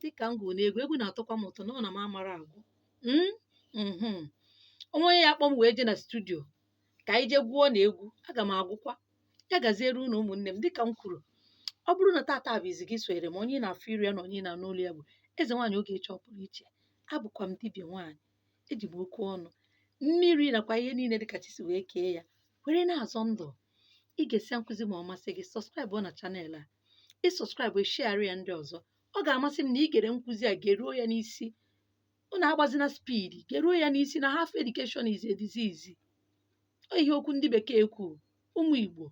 dịka m gụrụ n'egwu egwu na-atọkwa m ụtọ na ọ na m amara agwụ Mm, mhm. o nwee onye ya-akpọ m wee jee na studio ka anyị jee gwụọ na egwu aga m agwụkwa ya gaziere unu ụmụnne m dịka m kwuru ọ bụrụ na tata bụ izi gị sonyere m onye ị na-afụ iru ya na onye ị na-anụ olu ya bụ eze nwaanyị ogechi ọpụrụ iche abụkwa m dibịa nwaanyị eji m okwu ọnụ mmiri nakwa ihe niile dịka chi si wee kee ya were na-azọ ndụ i gesie nkụzi m a ọ masị gị subscribe na channel a ị subscribe share ya ndị ọzọ ọ ga-amasị m na i gere nkụzi a geruo ya n'isi unu agbazina speed geruo ya n'isi na half education is a disease ọ ihe okwu ndị bekee kwuru ụmụ igbo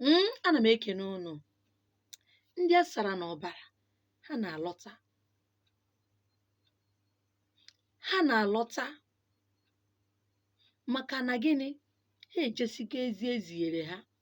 mm, ana m ekene unu ndị a sara n'ọbara ha na-alọta ha na-alọta maka na gịnị ha ejesigo ozi eziere ha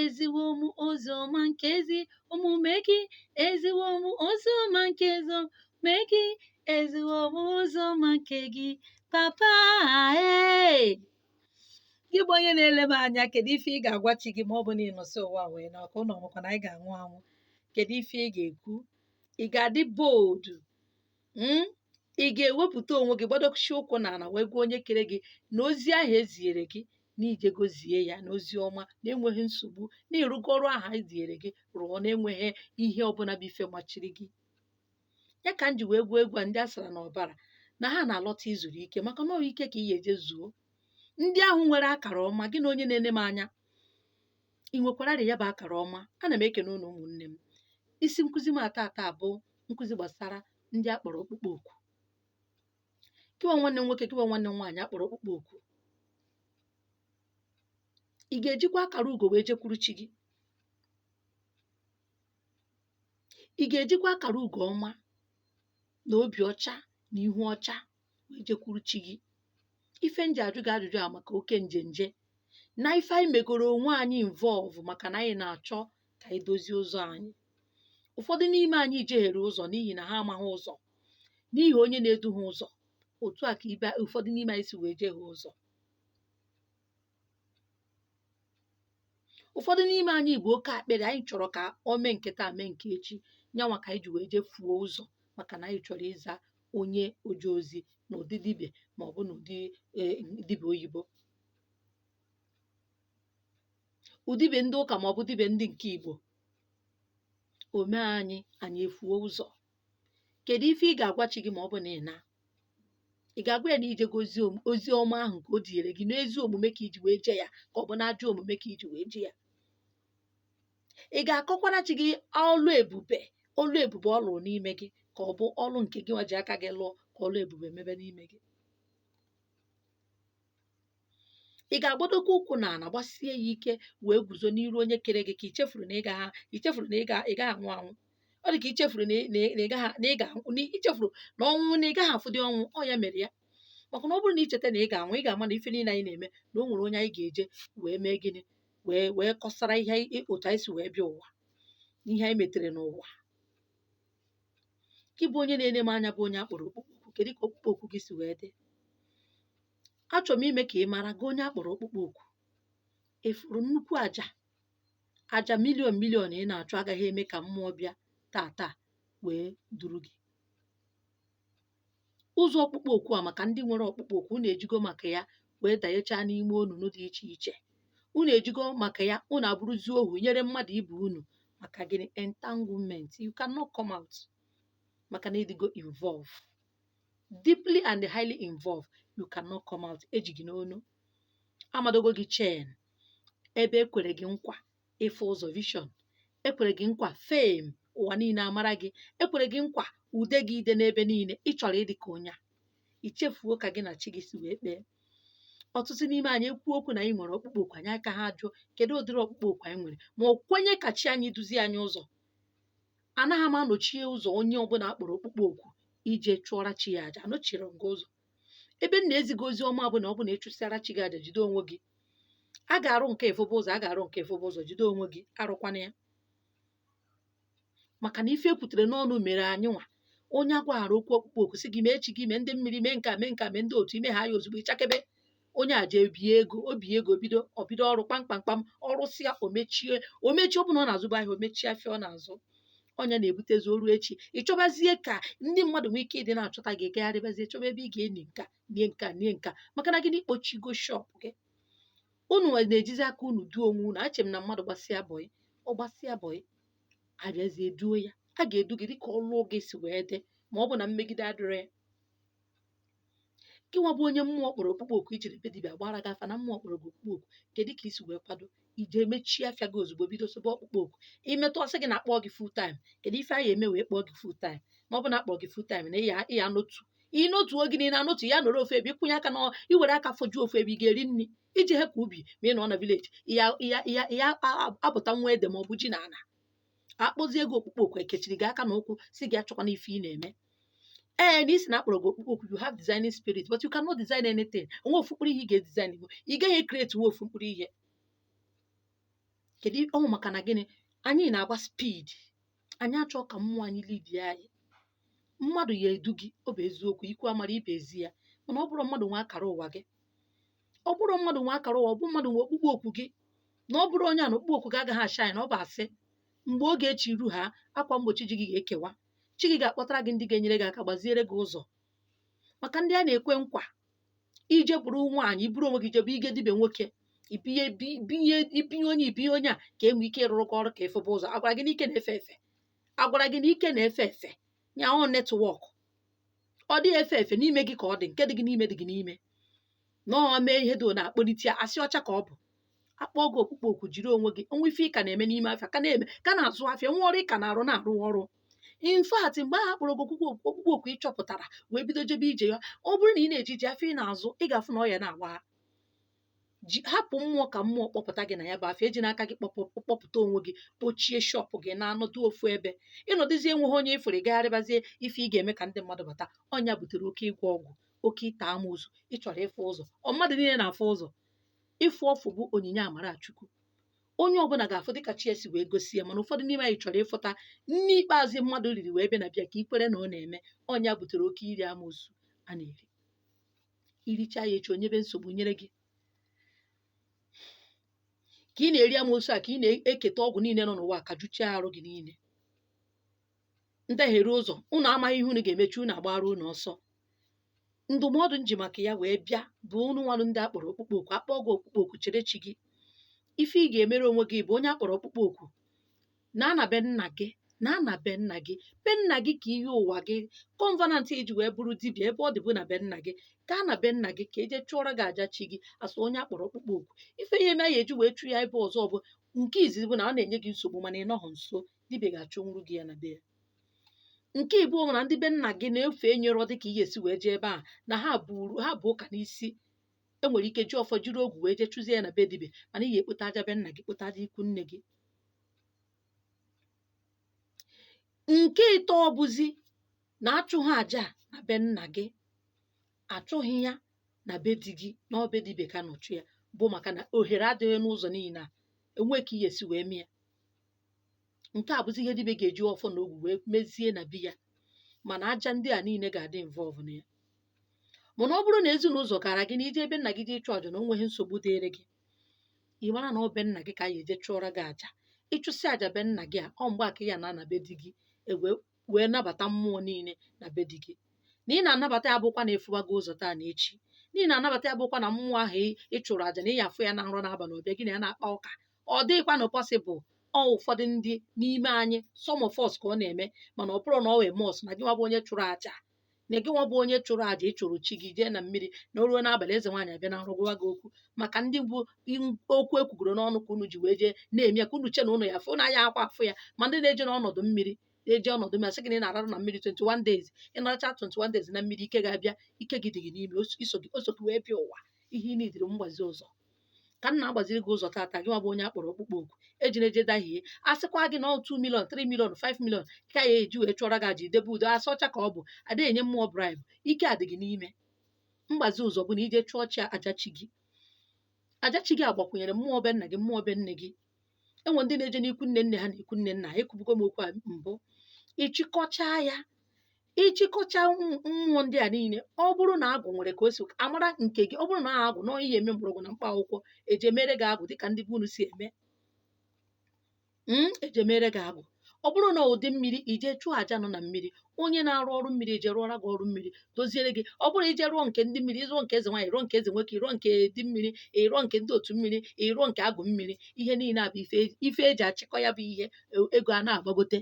eziwo m ozi ọma nke ezi omume gị eziwo m ozi ọma nke ezi omume gị eziwo m ozi ọma nke gị papa ee gị bụ onye na-ele m anya kedu ife ị ga-agwa chi gị ma ọ bụ na ị nọsị ụwa wee naa ọ kwa unu makwa na anyị ga-anwụ anwụ kedu ife ị ga-ekwu ị ga-adị bold mm, ị ga-ewepụta onwe gị gbadosi ụkwụ n'ala wee gwa onye kere gị na ozi ahụ eziere gị na i jego zie ya n'ozi ọma na-enweghị nsogbu na ị rụgo ọrụ ahụ eziere gị rụọ na-enweghị ihe ọbụla bụ ife machiri gị ya ka m ji wee gwụọ egwu a ndị a sara n'ọbara na ha na-alọta izuru ike maka na ọ bụ ike ka ị ya-eje zuo ndị ahụ nwere akara ọma gịnwa onye na-ene m anya ị nwekwararị ya bụ akara ọma ana m ekene unu ụmụnne m isi nkụzi m tata bụ nkụzi gbasara ndị a kpọrọ ọkpụkpọ oku gịwa nwanne m nwoke gịwa nwanne m nwaanyị a kpọrọ ọkpụkpọ oku ị ga-ejikwa akara ugo wee jekwuru chi gị ị ga-ejikwa akara ugo ọma na obi ọcha na ihu ọcha wee jekwuru chi gị ife m ji ajụ gị ajụjụ a maka oke njenje na ife anyị megoro onwe anyị involve maka na anyị na-achọ ka anyị dozie ụzọ anyị ụfọdụ n'ime anyị jehere ụzọ n'ihi na ha amaghị ụzọ n'ihi onye na-edu ha ụzọ otu a ka ibe ụfọdụ n'ime anyị si wee jehie ụzọ ụfọdụ n'ime anyị bụ oke akpịrị anyị chọrọ ka o mee nke taa mee nke echi nyanwa ka anyị ji wee jee fuo ụzọ maka na anyị chọrọ ịza onye oje ozi na ụdị dibịa ma ọ bụ na ụdị eh, dibịa oyibo bụ dibịa ndị ụka ma ọ bụ dibịa ndị nke igbo o mee anyị anyị efuo ụzọ kedu ife ị ga-agwa chi gị ma ọ bụ na ị na ị ga-agwa ya na ije gị ozi om- ozi ọma ahụ nke o dinyere gị n'ezi omume ka i ji wee jee ya ka ọ bụ n'ajọ omume ka i ji wee jee ya ị ga-akọkwara chi gị ọlụ ebube ọlụ ebube ọ lụrụ n'ime gị ka ọ bụ ọlụ nke gị nwa ji aka gị lụọ ka ọlụ ebube mebe n'ime gị ị ga-agbadokwa ụkwụ na ala gbasie ya ike wee guzo n'iru onye kere gị ka i chefuru na ị gaghị i chefuru na ị ga ị gaghị anwụ anwụ ọ dị ka i chefuru na ị na ị- na ị gaghị na ị ga-anwụ na i chefuru na ọnwụ na ị gaghị afụdị ọnwụ ọ ya mere ya maka na ọ bụrụ na i cheta na ị ga-anwụ ị ga-ama na ife niile anyị na-eme na o nwere onye anyị ga-eje wee mee gịnị wee wee kọsara ihe anyị- otu anyị si wee bịa ụwa ihe anyị metere n'ụwa gị bụ onye na-ele m anya bụ onye a kpọrọ ọkpụkpọ oku kedu ka ọkpụkpọ oku gị si wee dị achọrọ m ime ka ị mara gị onye a kpọrọ ọkpụkpọ oku ị fụrụ nnukwu aja aja milion milion ị na-achụ agaghị eme ka mmụọ bịa taa taa wee duru gị ụzọ ọkpụkpọ oku a maka ndị nwere ọkpụkpọ oku unu ejigo maka ya wee danyechaa n'ime onunu dị iche iche unu ejigo maka ya unu abụrụzi ohu nyere mmadụ ibe unu maka gịnị entanglement you cannot come out maka na ị dịgo involve deeply and highly involved you cannot come out e ji gị n'onu a madogo gị chain ebe e kwere gị nkwa ịfụ ụzọ vision e kwere gị nkwa fame ụwa niile amara gị e kwere gị nkwa ude gị ide n'ebe niile ị chọrọ ịdị ka onye a i chefuo ka gị na chi gị si wee kpee ọtụtụ n'ime anyị ekwu okwu na anyị nwere ọkpụkpọ oku anyị akaha jụọ kedu ụdịrị ọkpụkpọ oku anyị nwere ma o kwenye ka chi anyị duzie anyị ụzọ anaghị m anọchie ụzọ onye ọbụla a kpọrọ ọkpụkpọ oku ije chụọra chi ya aja anọchirọ m gị ụzọ ebe m na-eziga ozi ọma bụ na ọ bụ na ị chụsịara chi gị aja jide onwe gị a ga-arụ nke ịfụbe ụzọ a ga-arụ nke ịfụbe ụzọ jide onwe gị arụkwana ya maka na ife e kwutere n'ọnụ mere anyị nwa onye a gwaghara okwu ọkpụkpọ oku sị gị mee chi gị mee ndị mmiri mee nke a mee nke a mee ndị otu i mehaa ya ozugbo ị chakebe onye a jee bie ego o bie ego bido ọ bido ọrụ kpamkpamkpam ọ rụsịa o mechie o mechie ọ bụ na ọ na-azụba ahịa o mechie afịa ọ na-azụ onye na-ebutezi o ruo echi ị chọbazie ka ndị mmadụ nwee ike ịdị na-achọta gị ị gagharịbazie chọba ebe ị ga-eni nka nie nka nie nka maka na gị na ị kpọchigo shop gị unu na-ejizi aka unu duo onwe unu ache m na mmadụ gbasịa bọị ọ gbasịa bọị a bịazie duo ya a ga-edu gị dịka ọlụ gị si wee dị ma ọ bụ na mmegide adịrọ ya gị nwa bụ onye mmụọ kpọrọ ọkpụkpọ oku i jere be dibịa gbara gị afa na mmụọ kpọrọ gị ọkpụkpọ oku kedu ka i si wee kwado i jee mechie afịa gị ozugbo bido sobe ọkpụkpọ oku i metụ ọ sị gị na a kpọọ gị full time kedu ife anyị eme wee kpọọ gị full time ma ọ bụ na a kpọọ gị full time na ị ya ị ya-anọtu ị nọtu oge niile anọtu ya nọrọ ofu ebe ị kwụnye aka na i were aka fojuo ofu ebe ị ga-eri nri iji hepụ ubi ma ị nọ na vileji ya ya ya ya apụta nwa ede ma ọ bụ ji na ala akpọzie gị ọkpụkpọ oku ekechiri gị aka na ụkwụ si gị achọkwana ife ị na-eme ee na isi na akpọrọ gị ọkpụkpọ oku you have designing spirit but you cannot design anything onwe ofu mkpụrụ ihe ị ga-edesign bụ ị gaghị ecreate nwu ofu mkpụrụ ihe kedu ọnwụ maka na gịnị anyị na-agba speed anyị achọọ ka mmụọ anyị lead anyị mmadụ ya edu gị ọ bụ eziokwu ikwu amara ibe ezi ya mana ọ bụrọ mmadụ nwe akara ụwa gị ọ bụrọ mmadụ nwe akara ụwa ọ bụ mmadụ nwe ọkpụkpọ oku gị na ọ bụrọ onye a na ọkpụkpọ oku gị agaghị ashine na ọ bụ asị mgbe oge chi ru ha akwa mgbochi ji gị ga-ekewa chi gị ga-akpọtara gị ndị ga-enyere gị aka gbaziere gị ụzọ maka ndị a na-ekwe nkwa ije bụrụ nwaanyị iburu onwe gị jebe ige dibe nwoke ibinye bi- binye ibinye onye ibinye onye a ka e nwee ike ịrụrụ gị ọrụ ka ị fụba ụzọ agwara gị na ike na-efe efe agwara gị na ike na-efe efe ya ọ network ọ dịghị efe efe n'ime gị ka ọ dị nke dị gị n'ime dị gị n'ime na ọ mee ihe dị na-akpọlite ya asị ọcha ka ọ bụ akpọ gị ọkpụkpọ oku jiri onwe gị onwe ife ị ka na-eme n'ime afịa ka na-eme ka na-azụ afịa nwe ọrụ ị ka na-arụ na-arụ ọrụ in fact mgbe ahụ akpọrọ gị ọkpụkpọ oku ị chọpụtara wee bido jebe ije ya ọ bụrụ na ị na-eji ije afịa ị na-azụ ị ga-afụ na ọ ya na-agba ji hapụ mmụọ ka mmụọ kpọpụta gị na ya bụ afịa ejina aka gị kpọpụta onwe gị kpochie shop gị na-anọdụ ofu ebe ịnọdụzie enweghị onye ị fụrụ gagharịbazie ife ị ga-eme ka ndị mmadụ bata ọ nya butere oke ịgwọ ọgwụ oke ịta amoosu ị chọrọ ịfụ ụzọ ọ mmadụ niile na-afụ ụzọ ịfụ ọfụ bụ onyinye amara chukwu onye ọbụla ga-afụ dịka chi ya si wee gosi ya mana ụfọdụ n'ime anyị chọrọ ịfụta nni ikpeazụ mmadụ riri wee bịa na be ya ka ikwere na ọ na-eme ọ nya butere oke iri amoosu a na-eri iricha ya echi o nyebe nsogbu nyere gị ka ị na-eri amoosu a ka ị na-eketa ọgwụ niile nọ n'ụwa ka juchie arụ gị niile ndị eghere ụzọ unu amaghị ihe unu ga-emechi unu agbara unu ọsọ ndụmọdụ m ji maka ya wee bịa bụ unu nwanụ ndị akpọrọ ọkpụkpọ oku akpọ gị ọkpụkpọ oku chere chi gị ife ị ga-emere onwe gị bụ onye akpọrọ ọkpụkpọ oku naa na be nna gị naa na be nna gị be nna gị ka iyi ụwa gị covenant i ji wee bụrụ dibịa ebe ọ dị bụ na be nna gị gaa na be nna gị ka eje chụọrọ gị aja chi gị asụ onye akpọrọ ọkpụkpọ oku ife ihe na ya eji wee chụ ya ebe ọzọ bụ nke izizi bụ na ọ na-enye gị nsogbu mana ị nọghị nso dibịa ga-achụnwuru gị ya na be ya nke ịbụọ bụ na ndị be nna gị na-efe enyerọ dị ka i ya esi wee jee ebe a na ha bu ụka n'isi e nwere ike ji ọfọ jiri ogu wee jee chụzie ya na be dibịa mana ị ga-ekpota aja be nna gị kpota aja ikwu nne gị nke ịtọ bụzi na achụghị aja a na be nna gị achụghị ya na be di gị na ọ be dibịa ka a nọ chụ ya bụ maka na ohere adịghị n'ụzọ niile a enweghị ka i ya esi wee mee ya nke a bụzi ihe dibịa ga-eji ọfọ na ogu wee mezie na be ya mana aja ndị a niile ga-adị involve na ya mana ọ bụrụ na ezinụzọ gara gị na ije ebe nna gị jee ịchụ aja na o nweghị nsogbu dịịrị gị ị mara na ọ be nna gị ka a ya eje chụọrọ gị aja ị chụsịa aja be nna gị a ọ mgbe a ka ya na ana be di gị ewee wee nabata mmụọ niile na be di gị na ị na-anabata ya bụkwa na ịfụwa gị ụzọ taa na echi na ị na-anabata ya bụkwa na mmụọ ahụ ị- ị chụrụ aja na ị ya afụ ya na nrọ n'abalị ọ bịa gị na ya na-akpa ụka ọ dịghịkwa na possible ọ ụfọdụ ndị n'ime anyị some of us ka ọ na-eme mana ọ bụrụ na ọ wee must na gị nwa bụ onye chụrụ aja na gị nwa bụ onye chụrụ aja ị chụrụ chi gị jee na mmiri na o ruo n'abalị eze nwaanyị abịa na nrọ gwawa gị okwu maka ndị bụ in- okwu ekwugoro n'ọnụ ka unu ji wee jee na-eme ya ka unu che na unu ya afụ na ya akwa afụ ya ma ndị na-eje n'ọnọdụ mmiri na-eje ọnọdụ mmiri a sị gị na ị na-ararụ na mmiri 21 days ị naracha 21 days na mmiri ike ga-abịa ike gị dị gị n'ime o so- iso gị o so gị wee bịa ụwa ihe ị nidiri mgbazi ụzọ ka m na-agbaziri gị ụzọ tata gị nwa bụ onye a kpọrọ ọkpụkpọ oku ejina eje dahie a sịkwa gị na ọ 2 million 3 million 5 million ka a ya eji wee chụọrọ gị aja idebe udo asị ọcha ka ọ bụ a da enye mmụọ bribe ike a dị gị n'ime mgbazi ụzọ bụ na i je chụọ chi aja chi gị aja chi gị agbakwunyere mmụọ be nna gị mmụọ be nne gị e nwe ndị na-eje n'ikwu nne nne ha na ikwu nne nna ha ekwubugo m okwu a mbụ ị chịkọchaa ya ị chịkọcha mmụọ ndị a niile ọ bụrụ na agwụ nwere ka o si amara nke gị ọ bụrụ na agwụ na ihe eme mgbọrọgwụ na mkpa akwụkwọ eje mere gị agwụ dịka ndị be unu si eme eje mere gị agwụ ọ bụrụ na ndị mmiri i je chụọ aja nọ na mmiri onye na-arụ ọrụ mmiri eje rụọra gị ọrụ mmiri doziere gị ọ bụrụ i je rụọ nke ndị mmiri ị rụọ nke eze nwaanyị rụọ nke eze nwoke ị rụọ nke di mmiri ị rụọ nke ndị otu mmiri ị rụọ nke agụ mmiri ihe niile a bụ ife e ji achịkọ ya bụ ihe ego a na-agbagote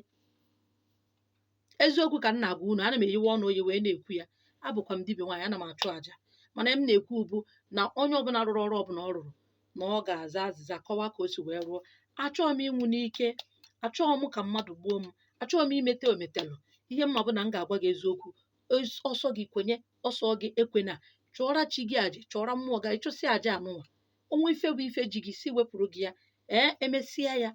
eziokwu ka m na-agwa unu ana m eyiwe ọnụ oyi wee na-ekwu ya abụkwa m dibịa nwaanyị ana m achụ aja mana ihe m na-ekwu bụ na onye ọbụla rụrụ ọrụ ọbụla ọ rụrụ na ọ ga-aza azịza kọwaa ka o si wee rụọ achọghị m ịnwụ n'ike achọghị m ka mmadụ gbuo m achọghị m imete ometelụ ihe m ma bụ na m ga-agwa gị eziokwu Es- ọ sọ gị kwenye ọ sọ gị ekwena chụọra chi gị aja chụọra mmụọ gị ị chụsịa aja anụnwa o nwee ife bụ ife ji gị sị wepụrụ gị ya ee e mesịa ya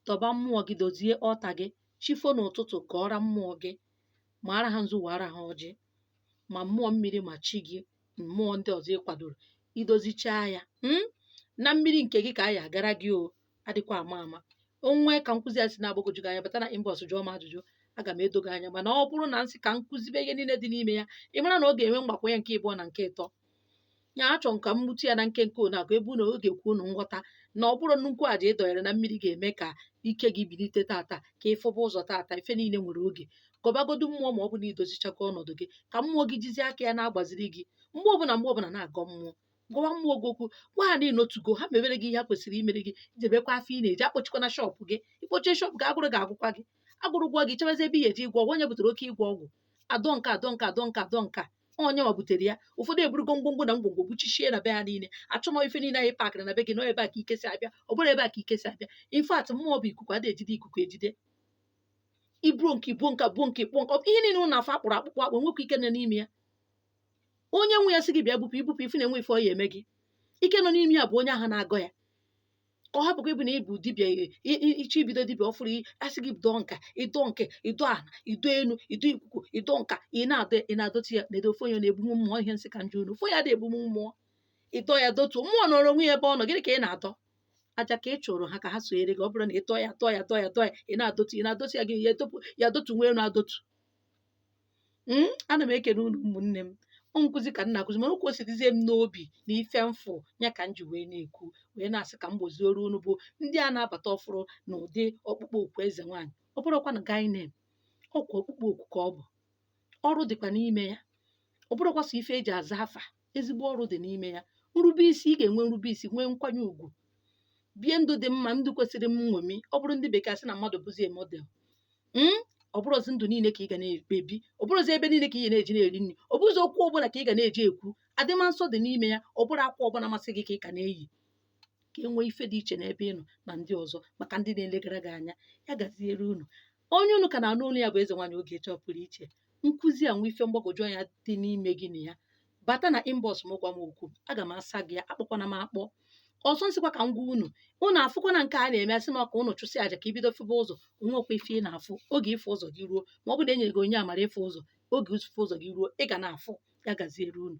tọba mmụọ gị dozie altar gị chi fo n'ụtụtụ gọọra mmụọ gị maara ha nzu waara ha ọjị ma mmụọ mmiri ma chi gị mmụọ ndị ọzọ ị kwadoro i dozichaa ya mm? na mmiri nke gị ka a ya agara gị o adịkwa ama ama o nwee ka nkụzi a si na-agbagwoju gị anya bata na inbox jụọ m ajụjụ aga m edo gị anya mana ọ bụrụ na m sị ka m kụzibe ihe niile dị n'ime ya ị mara na ọ ga-enwe mgbakwunye nke ịbụọ na nke ịtọ ya achọ m ka m gbutu ya na nkenke one akụ ebe unu ọ ga-ekwe unu nghọta na ọ bụrọ nnukwu aja ị dọnyere na mmiri ga-eme ka ike gị bilite tata ka ị fụba ụzọ tata ife niile nwere oge gọbagodu mmụọ ma ọ bụ na i dozichago ọnọdụ gị ka mmụọ gị jizie aka ya na-agbaziri gị mgbe ọbụla mgbe ọbụla na-agọ mmụọ gwawa mmụọ gị okwu gwa ha na ịnotugo ha mebere gị ihe ha kwesịrị imere gị jebekwa afịa ị na-eje akpọchikwana shop gị ị kpọchie shop gị agụrụ ga-agụkwa gị agụrụ gụọ gị chebazi ebe ị ya eje ịgwọ ọgwụ onye butere oke ịgwọ ọgwụ adọ nke adọ nke adọ nke adọ nke onye nwa butere ya ụfọdụ eburugo ngwongwo na ngwongwo buchichie na be ha niile achọmọ ife niile anyị pakịrị na be gị nọ ebe a ka ike si abịa ọ bụrụ ebe a ka ike si abịa in fact mmụọ bụ ikuku ada ejide ikuku ejide ibuo nke ibuo nka buo nke kpụọ nka ihe niile unu afụ akpụrụ akpụkpọ akpụ nwekwa ike nọ n'ime ya onye nwe ya sị gị bịa bupụ ibupụ ife na-enwe ife ọ ya eme gị ike nọ n'ime ya bụ onye ahụ na-agọ ya ka ọ hapụkwa ịbụ na ịbụ dibịa i- i- i- iche ibido dibịa ọfụrụ i- asị gị dọọ nka ịdọ nke ịdọ ana ịdọ enu ịdọ ikuku ịdọ nka ị na-adọ ị na-adọtụ ya na-edo ofe onye na-ebunwu mmụọ ihe nsị ka m jụọ unu ofe onye ada ebunwu mmụọ ịdọ ya dọtuo mmụọ nọrọ onwe ya ebe ọ nọ gịnị ka ị na-adọ aja ka ị chụrụ ha ka ha sonyere gị ọ bụrụ na ịtọ ya tọọ ya tọọ ya tọọ ya ị na-adọtu ị na-adọtu ya gị ya etopụ ya adọtu nwa elu adọtu m hmm? ana m ekene unu ụmụnne m ọ nkụzi ka m na-akụzi mana ka o si dịzie m n'obi na ife m fụ ya ka m ji wee na-ekwu wee na-asị ka m gbozioro unu bụ ndị a na-abata ọfụrụ na ụdị ọkpụkpọ oku eze nwaanyị ọ bụrọkwanụ guy name ọkwa ọkpụkpọ oku ka ọ bụ ọrụ dịkwa n'ime ya ọ bụrọkwa sọ ife eji aza afa ezigbo ọrụ dị n'ime ya nrube isi ị ga-enwe nrube isi nwee nkwanye ugwu bie ndụ dị mma ndụ kwesịrị nṅomi ọ bụrụ ndị bekee asị na mmadụ bụzie model ọ bụrọzi ndụ niile ka ị ga na-ebi ọ bụrọzi ebe niile ka ị ga na-eje na-eri nri ọ bụrọzi okwu ọbụna ka ị ga na-eji ekwu adịma nsọ dị n'ime ya ọ bụrọ akwa ọbụna masị gị ka ị ga na-eyi ka e nwee ife dị iche n'ebe ị nọ na ndị ọzọ maka ndị na-elegara gị anya ya gaziere unu onye unu ka na-anụ olu ya bụ eze nwaanyị ogechi ọpụrụiche nkụzi a nwe ife mgbagwoju anya dị n'ime gị na ya bata na inbox m gwa m okwu aga m asa gị ya akpọkwana m akpọ ọzọ nsịkwa ka m gwa unu unu afụkwana nke a na-eme asị maka unu chụsị aja ka ibido febe ụzọ onwekwa ife ị na-afụ oge ịfụ ụzọ gị ruo ma ọ bụ na enyere gị onyinye amara ịfụ ụzọ oge ịfụ ụzọ gị ruo ị ga na-afụ ya gaziere unu